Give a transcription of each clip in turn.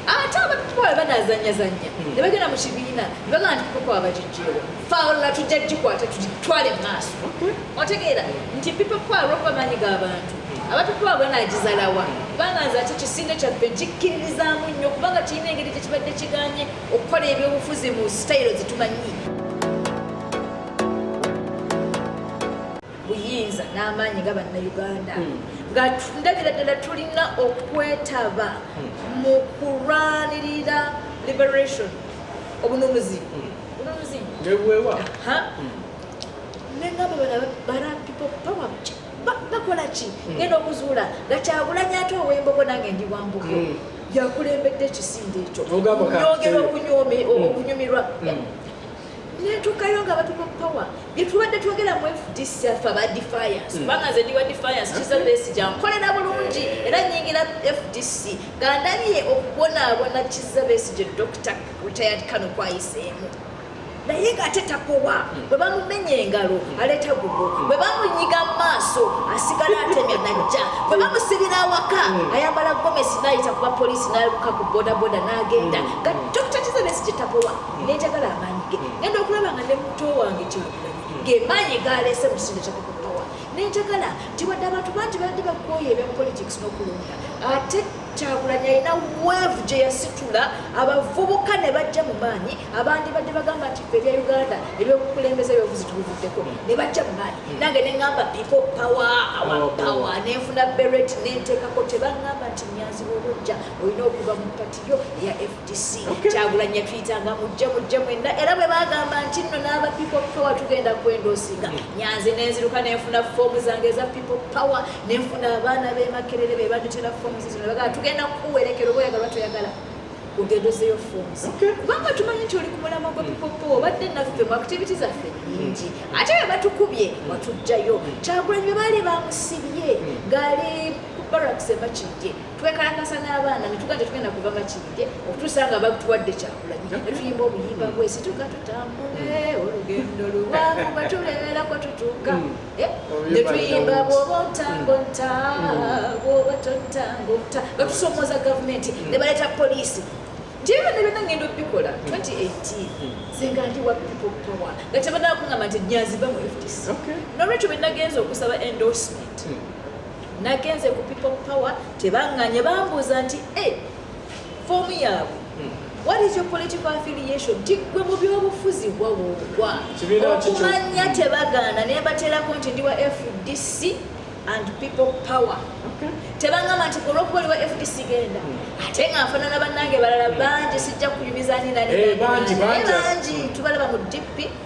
ate abatwala banazanyazanya hmm. ne bagenda mu kibiina ne bagamba nti kuko abagijjeewo fawula tujja gikwata tutwale mu maaso hmm. otegeera nti people power okuba maanyi g'abantu abatutwa banagizalawa kubanga nze ati kisinde kyaffe nkikkiririzaamu nnyo kubanga kirina engeri gyekibadde kiganye okukola ebyobufuzi mu sitayiro zitumanyi buyinza n'amaanyi nga bannayuganda hmm. nga ndabira ddala tulina okwetaba hmm. mu kulwanirira liberation obununuzi hmm. bununuzi nebuwewa nengamba bana people power bakola ki ngenda okuzuula nga kyagulanya ate owembogo nange ndi wambogo yakulembedde ekisinde ekyo yogera okunyumirwa netukayo nga batuka power byetubadde twogera mu fdc afa ba defiance hmm. kubanga nze ndiwa defiance kiza besi jankolera bulungi era nyingira fdc gandabye okubonaabona kiza besi gye dr retired kano kwayiseemu naye ngaate takowa hmm. bwe bamumenya engalo hmm. aleeta gugo bwe bamunyiga mu maaso asigala atemya najja bwe bamusibira awaka ayambala gomesi nayita kuba polisi naluka ku bodaboda nagenda nga dr kiza besi gye takowa nenjagala amaanyi ge genda okulaba nga ne muto wange kyagulanyi gemaanyi galeese musindekako kutowa nenjagala nti wadde abantu bangi badde bakwoyo ebya politics n'okulonda ate kyagulanyi alina weevu gye yasitula abavubuka ne bajja mu maanyi abandi badde bagamba nti fe ebya uganda ebyokukulembeza ebyobuzi tubivuddeko ne bajja mu maanyi nange ne ŋamba pipo pawa awa pawa ne nfuna beret ne nteekako tebaŋamba nti nyanzi bwobojja olina okuva mu pati yo eya kyagulanyi yatuyitanga mujje mujje mwenna era bwe bagamba nti nno n'aba people power tugenda kwenda osinga nyanze nenziruka nenfuna foomu zange eza people power nenfuna abaana bemakerere be banditera foomu zizino bagaa tugenda kukuwerekera oba oyagalwa toyagala ogenda ozeyo foomu kubanga tumanyi nti oli ku mulamwa gwa people power obadde naffe mu activity zaffe nyingi mm. ate bwe batukubye watujjayo kyagulanyi bwe baali bamusibye mm. ng'ali ku baraks emakijje twekalakasa n'abaana netuga tetugenda kuva makiride okutuusa nga batuwadde kyakulanyi netuyimba obuyimba bwesituka tutambule olugendo luwangu batuleerako tutuuka hmm. eh, netuyimba bwoba otango nta hmm. bwoba totango nta nga tusomoza gavumenti hmm. ne baleeta poliisi ntiebyo nebyona ngenda okubikola 2018 senga ndi wa people power nga tebanakungamba nti nyaziva mu fdc nolwekyo bwenagenza okusaba endorsement nagenze ku people power tebanganye bambuuza nti e eh, foomu yaabwe hmm. what is your political affiliation tigwe mu byobufuzi wawugwa okumanya tebagaana nembaterako nti ndi wa fdc and people power tebangamba nti olwokuba oli wa fdc genda hmm. ate nga nfanana bannange balala bangi sijja kunyumiza ninanebangi eh, tubalaba mu dp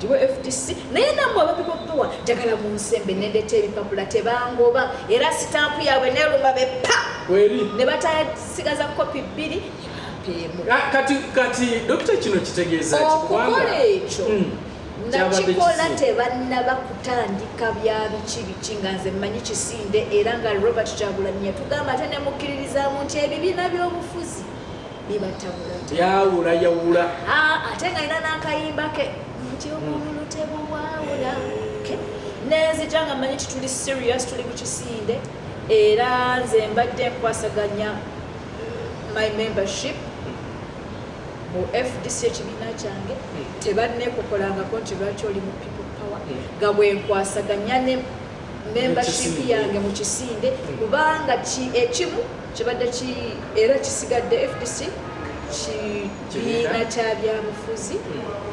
giwe fdc naye namwe abapipo powa njagala munsembe nendeta ebipapula tebangoba era sitampu yaabwe neluma bepa ne batasigaza kopi bbiri kati kati dokita kino kitegeeza okukola ekyo hmm. nakikola tebannaba kutandika bya biki biki nga nze mmanyi kisinde era nga robert kyagulanyi yatugamba ate nemukkiririzamu nti ebibiina by'obufuzi yawula yawula ah, ate nga ina nakayimba ke nti obululu tebuwawula nenzija nga manyi tituli serious tuli ku kisinde era nze mbadde nkwasaganya my membership mu fdc ekibiina kyange tebannekokolangako nti lwaki oli mu people power nga bwenkwasaganya ne membership yange mu kisinde kubanga ekimu kibadde era kisigadde fdc kibiina kya byabufuzi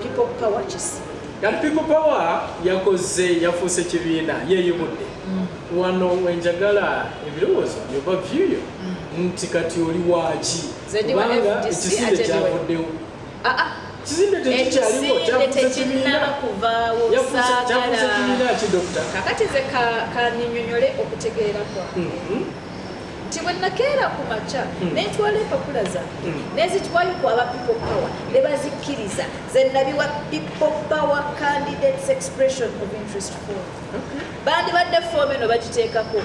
people power kisi kati people power yakoze yafuuse kibiina yeyubudde mm. wano wenjagala ebirowoozo byoba vyuyo mm. nti kati oli waaki kubanga ekisinde kyavuddewo ah, ah. ekizimbe tekinnaba kuvaawo sagalakakati ze kaninyonyole okutegeera kwange mm-hmm. nti bwe nakeera ku makya mm. nentwala empapula zange mm. nezitwayo ku aba people power ne bazikkiriza zenabiwa people power candidates expression of interest for bandibadde foomu eno bagiteekako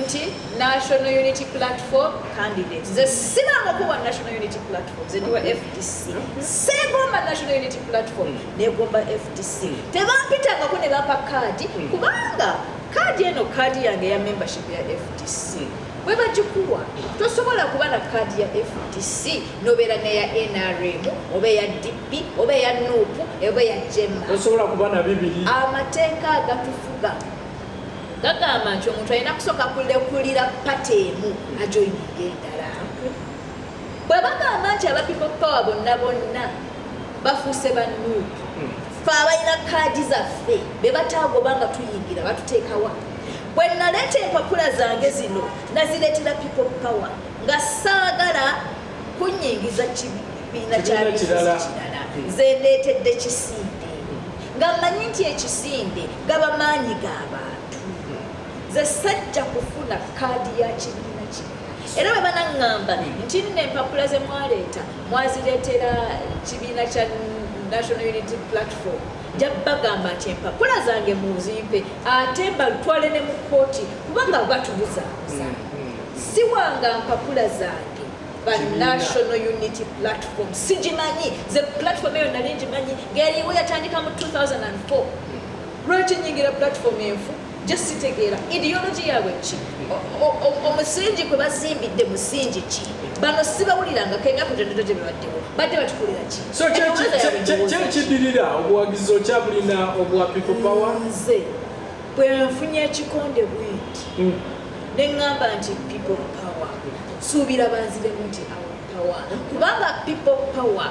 nti national unity platform candidates ze siramu okuwa national unity platform zeniwa fdc segomba national unity platform negomba fdc tebampitangako ne bapa kaadi kubanga kaadi eno kaadi yange ya membership ya fdc bwe bagikuwa tosobola kuba na kaadi ya fdc nobeera neya nrm oba eya dp oba eya nup oba eya jema osobola kuba na bibiri amateeka agatufuga gagamba nti omuntu alina kusooka kulekulira pata emu ajoyininga endala bwe bagamba nti abapipo power bonna bonna bafuuse ba nup hmm. fe abalina kaadi zaffe be bataagoba nga tuyingira batuteekawa Bwe naleeta empapula zange zino nazireetera people power nga saagala kunyingiza kibiina kyabizinesi kirala nze ndeetedde kisinde nga mmanyi nti ekisinde gaba maanyi ga bantu nze sajja kufuna kaadi ya kibiina kino era bwe banaŋŋamba nti nno empapula ze mwaleeta mwazireetera kibiina kya national unity platform nja bagamba nti empapula zange muzimpe ate mbatwale ne mu kkooti kubanga batubuzabuza mm, mm, mm. siwanga mpapula zange ba national unity platform sigimanyi ze platform eyo nali ngimanyi ngeriwo yatandika mu 2004 lwaki nyingira platform enfu just sitegeera ideology yaabwe ki omusingi kwe bazimbidde musingi ki bano sibawuliranga kemyaka gyonna gyebibaddewo badde batukulira ki so kyekidirira obuwagizi okyabulina obwa people power nze bwenfunye ekikonde bwinti hmm. neŋŋamba nti people power suubira banziremu nti our power kubanga people power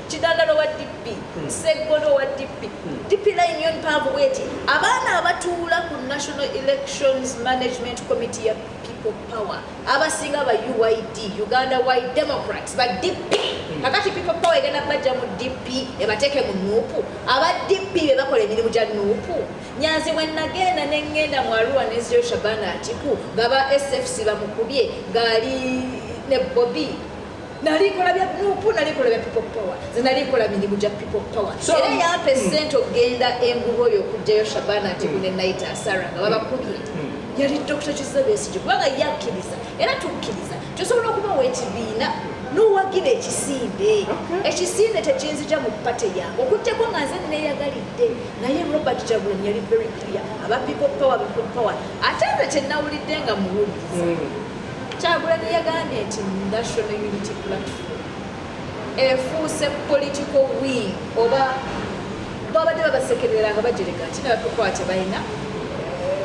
kidandalo wa DP hmm. seggono wa DP hmm. DP line yo mpanvu bweti abaana abatuula ku National Elections Management Committee ya People Power abasinga ba UYD Uganda Wide Democrats ba DP hmm. kakati People Power egenda bajja mu DP ebateeke mu nuupu aba DP be bakola emirimu gya nuupu nyanzi bwe nagenda ne ngenda mu Arua ne Zio Shabana Atiku nga ba SFC bamukubye ng'ali ne Bobi nali nkola bya nupu nali nkola bya people power nze nali nkola mirimu gya people power era yampa esente okugenda enguba oyo okugjayo shabana nti gune naita asara nga babakubye yali dr kizabesigi kubanga yakkiriza era tukkiriza tusobola okubawa ekibiina nowagira ekisinde ekisinde tekinzija mu pate yange okujjako nga nze neyagalidde naye robert jagulani yali very clear aba people power people power ate nze kyenawulidde nga muwuliza hmm. Kyagulanyi yagambye nti National Unity Platform efuuse political wing oba babadde babasekerera nga bajereka nti nebatukwate balina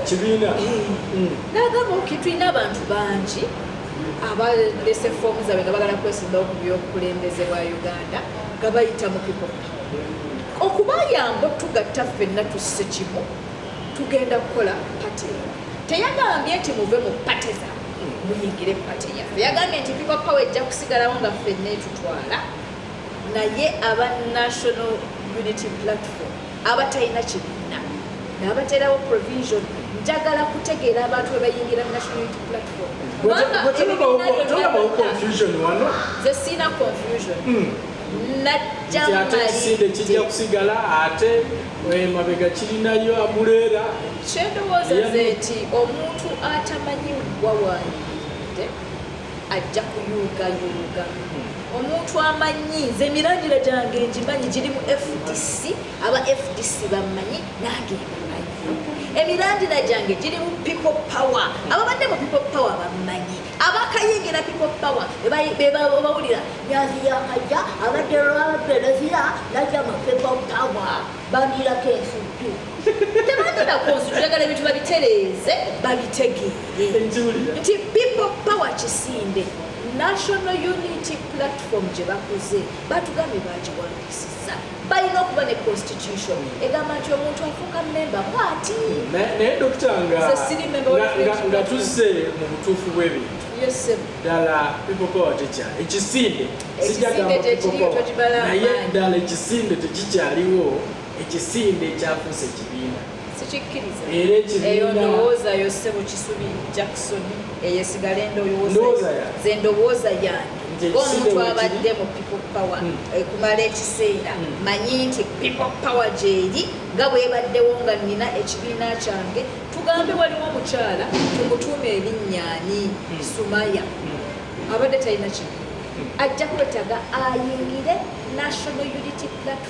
kibiina eh. mm. nagamba oki tulina abantu bangi abalese foomu zaabwe nga bagala kwesimbawo ku byobukulembeze bwa uganda nga bayita mu people okubayamba otugatta ffenna tusse kimu tugenda kukola pati eno teyagambye nti muve mu pati za muyingire pati yaffe yagambye nti people power ejja kusigalawo nga ffenna etutwala naye aba national unity platform abatalina kibiina nabaterawo provision njagala kutegeera abantu webayingira national unity platform ze siina confusion hmm. najjamu kijja kusigala ate emabega kirinayo amuleera kyendowooza ze nti omuntu atamanyi wawayidde ajja kuyuugayuuga omuntu amanyi nze emiragiro gyange ngimanyi giri mu fdc aba fdc bamanyi nange emirandira gyange giri mu people power ababadde mu people power bamanyi abakayingira people power bebawulira nyazi yakajja abadde lwabereziya najja mu people power bandirako ensuku tebatera kunsu njagala ebintu babitereeze babitegeere nti people power kisinde national unity platform gye bakoze batugambye bagiwandisiza balina okuba ne constitution egamba nti omuntu afuuka memba bwati naye dokita nga tuzze mu butuufu bw'ebintu ddala pipopawa tekya ekisinde sijagamnaye ddala ekisinde tekikyaliwo ekisinde ekyafuusa ekibiina era ekibiinaendowooza yange ng'omuntu abadde mu people power hmm. eh, kumala ekiseera hmm. manyi nti people power gyeri nga bwebaddewo nga nina ekibiina kyange tugambe waliwo omukyala tumutuuma erinnyani hmm. sumaya abadde talina kibi ajja kwetaga ayingire national unity platform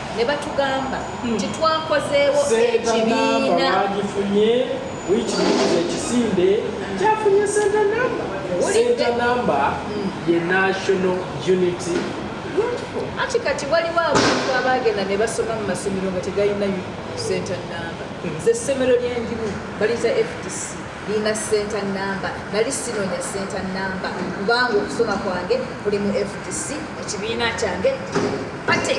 ne batugamba hmm. nti twakozeewo ekibiina bagifunye wiiki muyinza ekisinde kyafunye senta namba senta namba hmm. ye national unity ati kati waliwo abantu abagenda ne basoma mu masomero nga tegalina senta namba hmm. ze ssomero lyendimu baliza fdc Nina center number nali sinonya center number kubanga okusoma kwange kuli mu FDC ekibiina kyange pate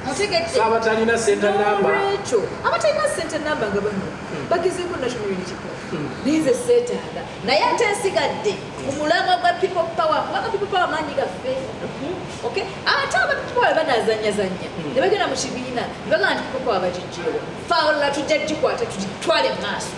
mutegedde abatalina center number ekyo abatalina center number nga bano hmm. bagezeeko national unity hmm. naye nze seetaaga naye ate nsigadde ku mulamwa gwa people power kubanga people power maanyi gaffe hmm. okay ate aba people power banazanyazanya ne bagenda mu kibiina ne bagamba nti people power bagijjeewo Paula tujja gikwata tutwale mu maaso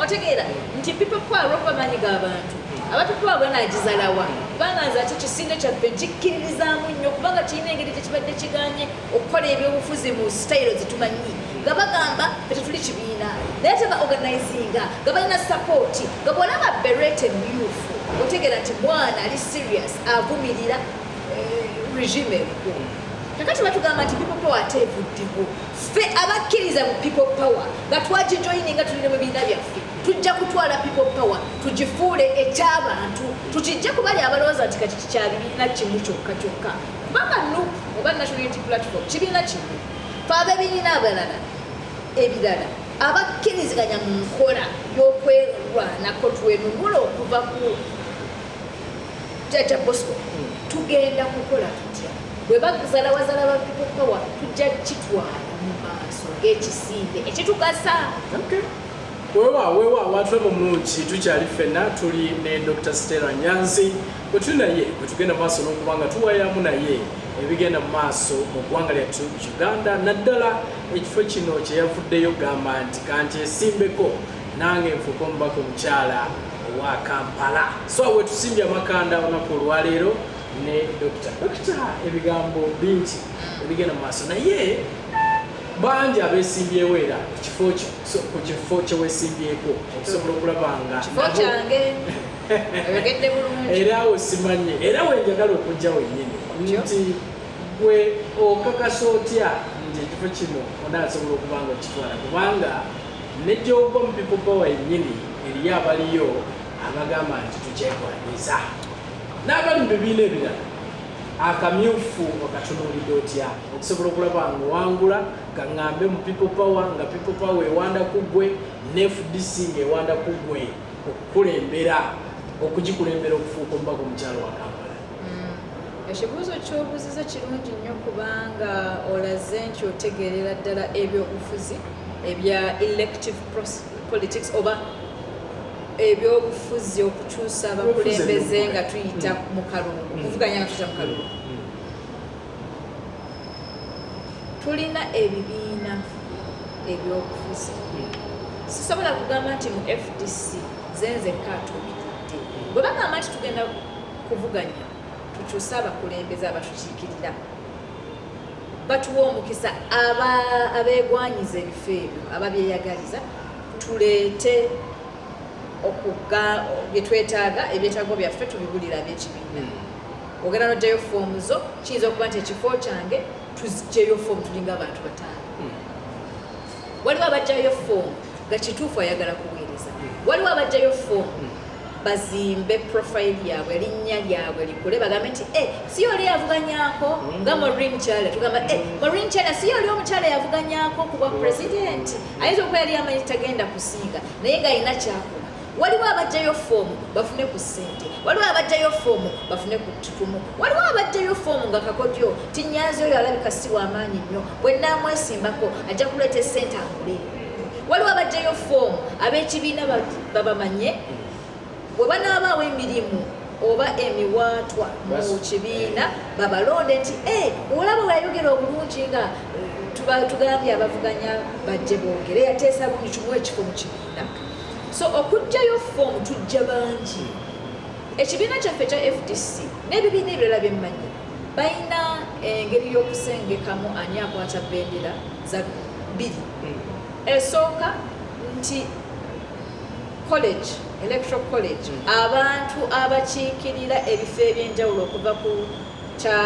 otegeera nti people power lwokuba maanyi g'abantu abantu kuba bwe nagizalawa kubanga nze ati kisinde kyaffe gikkiririzaamu nnyo kubanga kirina engeri gyekibadde kiganye okukola ebyobufuzi mu sitayiro zitumanyi nga bagamba tetuli kibiina naye teba organizinga nga balina sapooti nga bwolaba berete myufu otegeera nti mwana ali serious avumirira eh, regime ebukulu kakati batugamba nti bipopo ate evuddewo ffe abakkiriza mu people power nga twagijoyininga tulire mu biina byaffe tujja kutwala people power tugifuule ekyabantu tukijje kubali abalowooza nti kati kikya bibiina kimu kyokka kyokka kubanga nu oba national unity platform kibiina kimu fe abebiina abalala ebirala abakkiriziganya mu nkola y'okwerwanako twenunula okuva ku jajja bosco tugenda kukola tutya bwe bazalawazala ba people power tujja kitwala mu maaso ng'ekisiimbe ekitugasa wewa wewa abantu abo mungi tukyali ffenna tuli ne dr stella nyanzi bwe tuli naye bwe tugenda mu maaso n'okuba nga tuwayamu naye ebigenda mu maaso mu ggwanga lyattu uganda naddala ekifo kino kyeyavuddeyo gamba nti kanti esimbeko nange nfuuka omubaka omukyala owa Kampala so wetusimbye amakanda olunaku olwaleero ne dokita dokita ebigambo bingi ebigenda mu maaso naye bangi abesimbyewo era ekifo kyo ku kifo kyewesimbyeko okusobola okulaba nga kifo kyange oyogedde bulungi era awo simanye era wenjagala okujja wenyini nti gwe okakasa otya nti ekifo kino onaasobola okuba nga okitwala kubanga Ne gy'ogwa mu bipupa wennyini eriyo abaliyo abagamba nti tukyegwanyiza n'abali mu bibiina ebirala akamyufu okatunuulidde otya okusobola okulaba nga owangula kaŋŋambe mu people power nga people power ewanda ku ggwe ne fdc ng'ewanda ku ggwe okukulembera okugikulembera okufuuka omubaka omukyalo wa kampala ekibuuzo kyobuuziza kirungi nnyo kubanga olaze nti otegeerera ddala ebyobufuzi ebya elective politics oba ebyobufuzi okukyusa abakulembeze nga tuyita mm. mu kalungu mm. kuvuganya nga tuyita mu kalungu mm. tulina ebibiina ebyobufuzi sisobola kugamba nti mu fdc zenze katumidde bwe bagamba nti tugenda kuvuganya tukyuse abakulembeze abatukiikirira batuwa omukisa abeegwanyiza ebifo ebyo ababyeyagaliza tuleete okuga byetwetaaga ebyetaago byaffe tubibulira ab'ekibiina hmm. ogenda nojjayo foomu zo kiyinza okuba nti ekifo kyange tuzijjeyo foomu tulinga abantu bataano hmm. waliwo abajjayo foomu nga kituufu ayagala kuweereza hmm. waliwo abajjayo foomu bazimbe profile yabwe erinnya lyabwe likule bagambe nti e si oli yavuganyako nga mm. morin kyala tugamba e morin kyala si oli omukyala yavuganyako kubwa president ayinza okuba yali amanyi tagenda kusiiga naye nga alina kyakuba waliwo abajjayo foomu bafune ku ssente waliwo abajjayo foomu bafune ku tutumu waliwo abajjayo foomu nga kakodyo tinyanzi oyo alabika si wamaanyi nnyo bwe nnaamwesimbako ajja kuleeta essente akule waliwo abajjayo foomu ab'ekibiina babamanye bwe banaabaawo emirimu oba emiwaatwa mu kibiina babalonde nti eh, olaba weyayogera obulungi nga eh, tugambye abavuganya bajje boogere yateesa buli kimu ekifo mu kibiina so okujjayo foomu tujja bangi ekibiina kyaffe ekya fdc n'ebibiina ebirala byemmanyi balina engeri y'okusengekamu ani akwata bendera za bbiri esooka nti college electoral college mm. abantu abakiikirira ebifo ebyenjawulo okuva ku kya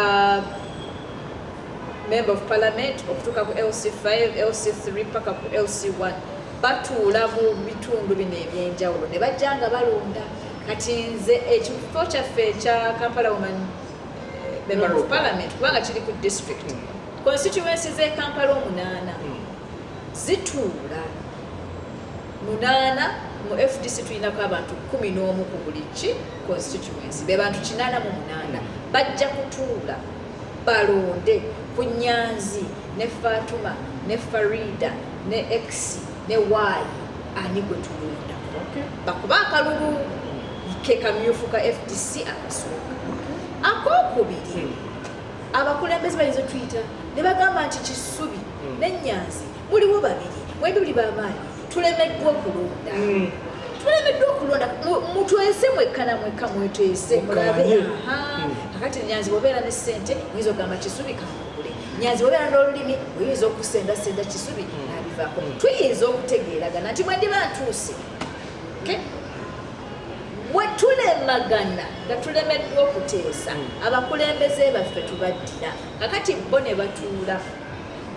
member of parliament okutuuka ku lc5 lc3 paka ku lc1 batuula mu bitundu bino ebyenjawulo ne bajja nga balonda kati nze ekifo kyaffe ekya kampala woman eh, member of parliament kubanga kiri ku district mm. Constituency z'e Kampala omunaana zituula munaana mu FDC tulinako abantu kumi n'omu ku buli ki constituency be bantu kinaana mu munaana bajja kutuula balonde ku nyanzi ne Fatuma ne Farida ne X ne Y ani gwe tulondako bakuba akalulu ke kamyufu ka FDC akasooka akokubiri abakulembeze bayinza otuyita ne bagamba nti kisubi hmm. nenyanzi muliwo babiri mwendi buli bamaanyi tulemeddwa okulonda hmm. tulemeddwa okulonda mutwese mwekkana mwekka mwetwese mulabe hmm. kakati nyanzi bwobeera ne sente oyinza okugamba kisubi kamugule nyanzi bwobeera n'olulimi oyinza okusendasenda kisubi nabivako tuyinza okutegeeragana nti mwendi bantuuse bwe tulemagana nga tulemeddwa okuteesa hmm. abakulembeze baffe tubaddira kakati bo ne batuula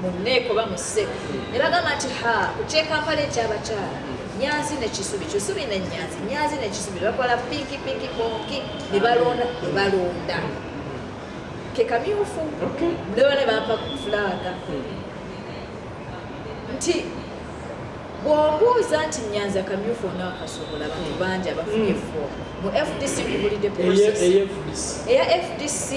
mu nneeko ba mu ssebo ne bagamba nti ha ku kyekampala ekyabakyala nyanzi nekisubi kisubi nenyanzi nyanzi nekisubi bakola pinki pinki bonki nebalonda nebalonda kekamyufu nebana bampa fulaaga hmm. nti bwombuuza nti nyanza kamyufu ona akasobola bantu hmm. bangi abafunye hmm. foomu mu fdc kubulidde eya fdc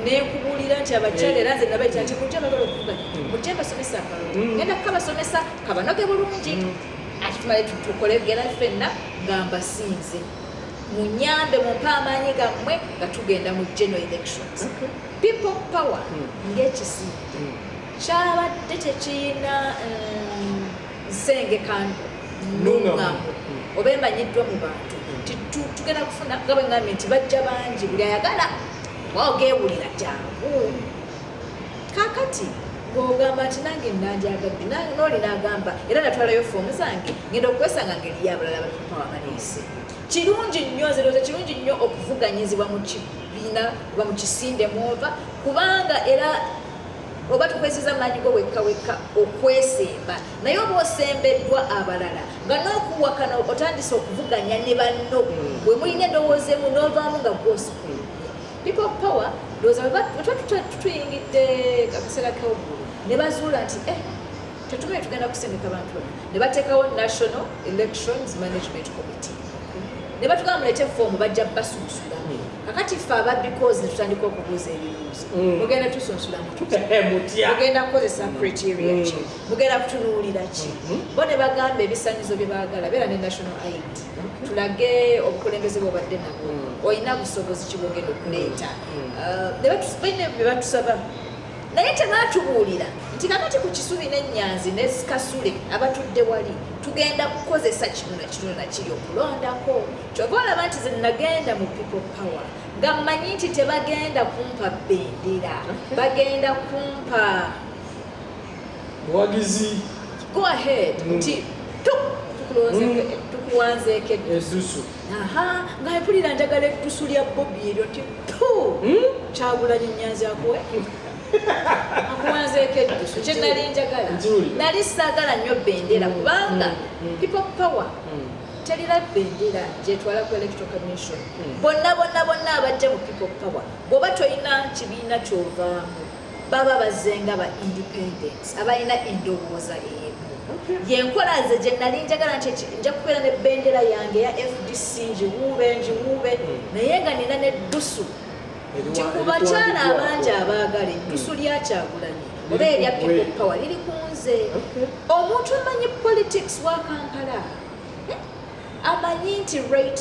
nekubulira nti abakyala era nze nabaita nti mujja bagala okuvuganya hmm. mujja basomesa akalulu genda kukabasomesa kabanoge bulungi ati tumale tukole gera fenna nga mbasinze munyambe mumpe amaanyi gammwe nga tugenda mu general elections people power ngekisiidde kyabadde tekiyina mm, nsengekano nungamu oba emanyiddwa mu bantu nti tugenda kufuna nga bwe ngambye nti bajja bangi buli ayagala waogewulira jangu kakati ng'ogamba nti nange nanjagadde nooli nagamba era natwalayo foomu zange ngenda okukwesanga ngeri yabalala batupa wabaleese kirungi nnyo nzirooza kirungi nnyo okuvuganyizibwa mu kibiina oba mu kisinde mwova kubanga era oba tukozesa maanyi go wekka wekka okwesemba naye oba osembeddwa abalala nga n'okuwakana otandise okuvuganya ne banno hmm. bwe mulina endowooza emu n'ovaamu nga gwosukulu people power ndowooza wetwatutuyingidde akaseera kewaggulu ne bazuula nti eh, tetumanyi tugenda kusindika bantu bano ne bateekawo national elections management committee ne batugamba mulete foomu bajja basunsulamu kakati ffe ababbi kozi netutandika okubuuza ebibuuzo mm. mugenda tusunsula mutmugenda kukozesa mm. criteria ki mm. mugenda kutunuulira ki mm-hmm. bo ne bagamba ebisanyizo bye baagala beera ne national aid tulage obukulembeze bwobadde nabo olina busobozi kibwogenda okuleeta uh, bebatusaba naye tebatubuulira nti kakati ku kisubi nenyanzi ne kasule abatudde wali tugenda kukozesa kino nakino nakiri okulondako kyova olaba nti zenagenda mu people power nga mmanyi nti tebagenda kumpa bendera bagenda kumpa buwagizi go ahead mm. nti tukuwanzeeko mm. eddusu aha nga mpulira njagala eddusu lya bobi eryo nti tu mm. kyagulanyo nyanzi akuwe akuwanzeeko eddusu kye nali njagala nali saagala nnyo bendera kubanga people power terina bendera gyetwala ku electoral commission hmm. bonna bonna bonna abajja mu people power bwoba tolina kibiina kyovaamu baba bazenga ba independence abalina endowooza emu yenkola nze gye nali njagala nti nja kubeera ne bendera yange ya fdc njiwuube njiwuube hmm. naye nga nina neddusu nti ku bakyala abangi abaagala ettusu lya kyagulanyi oba erya people power liri ku nze omuntu amanyi politics wa kampala eh? amanyi nti rate